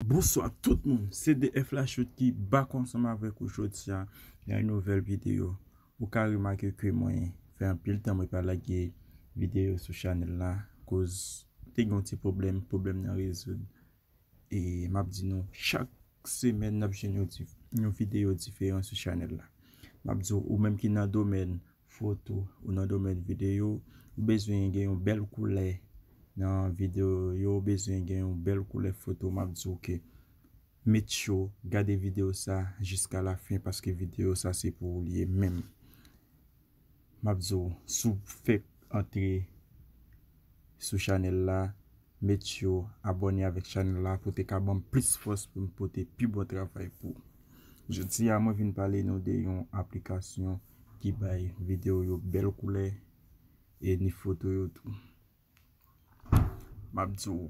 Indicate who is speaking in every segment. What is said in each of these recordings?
Speaker 1: Bonswa tout moun se DF Lachoud ki back ansanm avèk ou jodia nan yon nouvèl videyo ou ka remake ke mwen fè anpil tan mwen pa lage videyo sou chanèl la koz te gen yon ti pwoblèm, pwoblèm nan rezoud e map di nou chak semèn nap jwenn yon videyo diferan sou chanèl la map di ou menm ki nan domèn Foto, Ou nan domèn videyo, ou bezwen gen yon bèl koulè nan videyo ou yo, ou bezwen gen yon bèl koulè foto, m ap di w ke met cho, gade videyo sa jiska lafen paske videyo sa se pou ou li ye menm. M ap di w si w fèk antre sou chanèl la. Met yo abone avek chanel la pou te ka banm plis fos pou m pote pi bon travay pou. Jodi a mwen vin pale nou de yon aplikasyon ki bay video yo bel koulè e ni foto yo tou. Map di w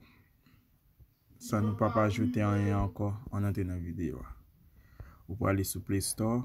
Speaker 1: san nou pap ajoute anyen anko an antre nan video a. Ou prale sou play store.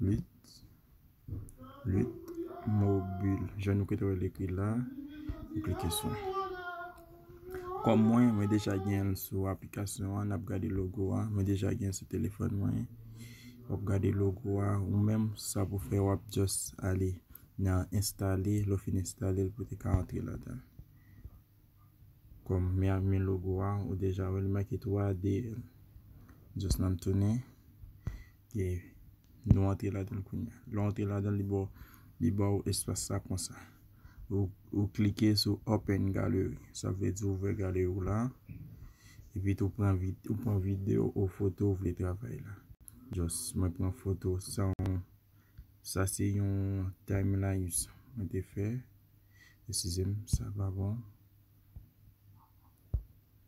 Speaker 1: 8 8 mobile jan nou kite wèl ekri la nou klike sou li kòm mwen mwen deja genl sou aplikasyon an nap gade logo a mwen deja genl sou telefòn mwen wap gade logo a ou menm sa pou fè wap just ale nan enstale lè w fin enstale l pou te ka antre ladan kòm mwen ap men logo a ou deja wèl make 3D just nan tounen e nou antre ladan l kounye a lè w antre ladan l li ba w espas sa konsa ou klike sou open gallery sa vle di ouvè galè ou la epi tou ou pran video ou foto ou vle travay la just mwen pran foto sa yon sa se yon time lapse mwen te fè eskize m sa pa bon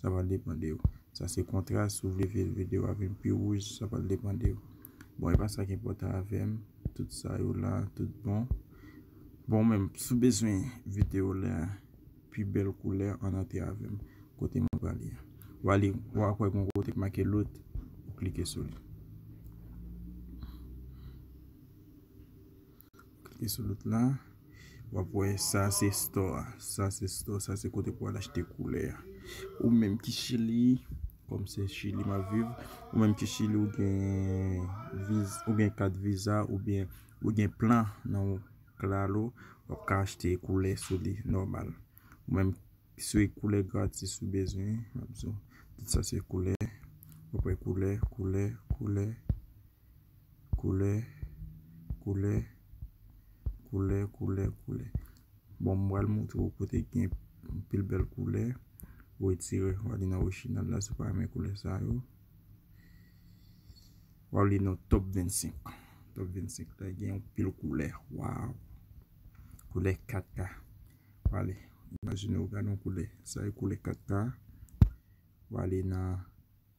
Speaker 1: sa pral depan de ou. Sa se kontras, si w vle fè videyo a vin pi wouj, sa pral depan de ou. Bon, e pa sa ki enpòtan avè m, tout sa yo la, tout bon. Bon men, si w bezwen videyo la pi bèl koulè, ann antre avè m, kote mwen pral ye a. W a li, w a kwè gen yon kote ki make load, ou klike sou li. Klike sou lòt la. W ap wè sa se store a. Sa se store, sa se kote pou al achte koulè a. Ou menm ki chili, kòm se chili m ap viv, ou menm ki chili ou gen kat viza ou byen ou gen plan nan ou klalo, w ap ka achte koulè sou li nòmal. Ou menm sou e koulè gratis ou bezwen, m ap di w. Tout sa se koulè. W ap wè koulè, koulè, koulè. Koulè, koulè, koulè, koulè, koulè. Bon, m pral montre w kote ki gen anpil bèl koulè. Ou etire, w ale nan Wechina la si w pa renmen koulè sa yo. W ale nan Top 25. Top 25 la gen anpil koulè. Waw! Koulè 4K. W ale, imajine w gade yon koulè. Sa e koulè 4K. W ale nan.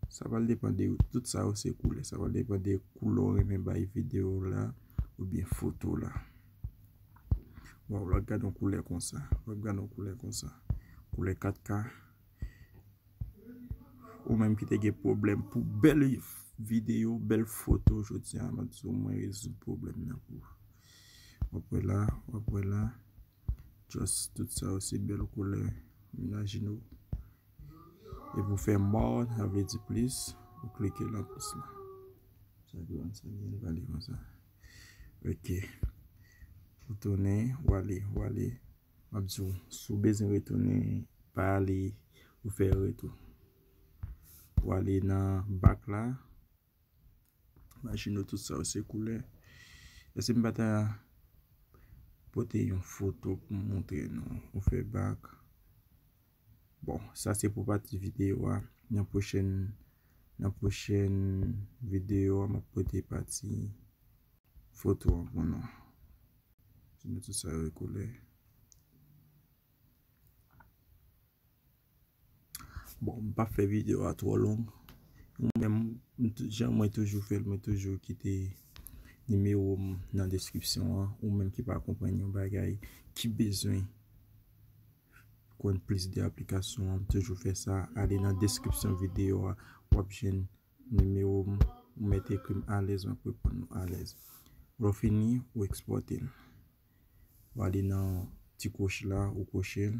Speaker 1: Sa pral depan de ou. Tout sa yo se koulè. Sa pral depan de koulè ou renmen bay videyo w la oubyen foto w la. Waw lwa gad yon koulè konsa. Lwa gad yon koulè konsa. Koulè 4K. Ou menm ki te gen pwoblèm pou bèl videyo, bèl foto jodi a. Mwen di w mwen rezoud pwoblèm nan pou ou. Wap wè la. Wap wè la. Just tout sa yo se bèl koulè Menaj nou E pou fè more sa vle di plis Ou klike nan plis la Sa di an sa byen vale konsa Ok Ou tounen ou ale ou ale M ap di w si w bezwen retounen pa ale ou fè retou Ou ale nan back la Imajine w tout sa yo se koulè. Èske m pa ta pote yon foto pou m montre nou? Ou fè bak. Bon, sa se pou pati videyo a. Nan pwochèn, nan pwochèn videyo a, mwen pote pati foto an pou nou. Imajine tout sa yo e koulè. Bon m pap fè video a twò long mwen menm jan mwen toujou fè l mwen toujou kite nimewo m nan deskripsyon an ou menm ki pa konprann yon bagay ki bezwen konn plis de aplikasyon an m toujou fè sa ale nan deskripsyon video a w ap jwenn nimewo m ou mèt ekri m alèz m ap reponn ou alèz lè w fini ou ekspòte l w ale nan ti kwochi la ou kwochi l.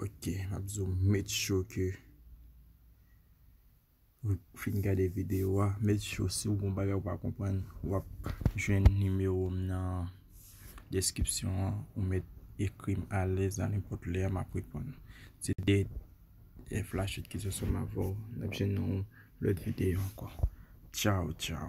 Speaker 1: Ok, m ap zoom make sure ke ou fin gade videyo a. Make sure si w gen yon bagay ou pa konprann, w ap jwenn nimewo m nan deskripsyon an. Ou mèt ekri m alèz a nenpòt lè m ap reponn. Se te flachit ki sou sèm avè w. N ap jwenn nan yon lòt videyo ankò. Tchaw tchaw.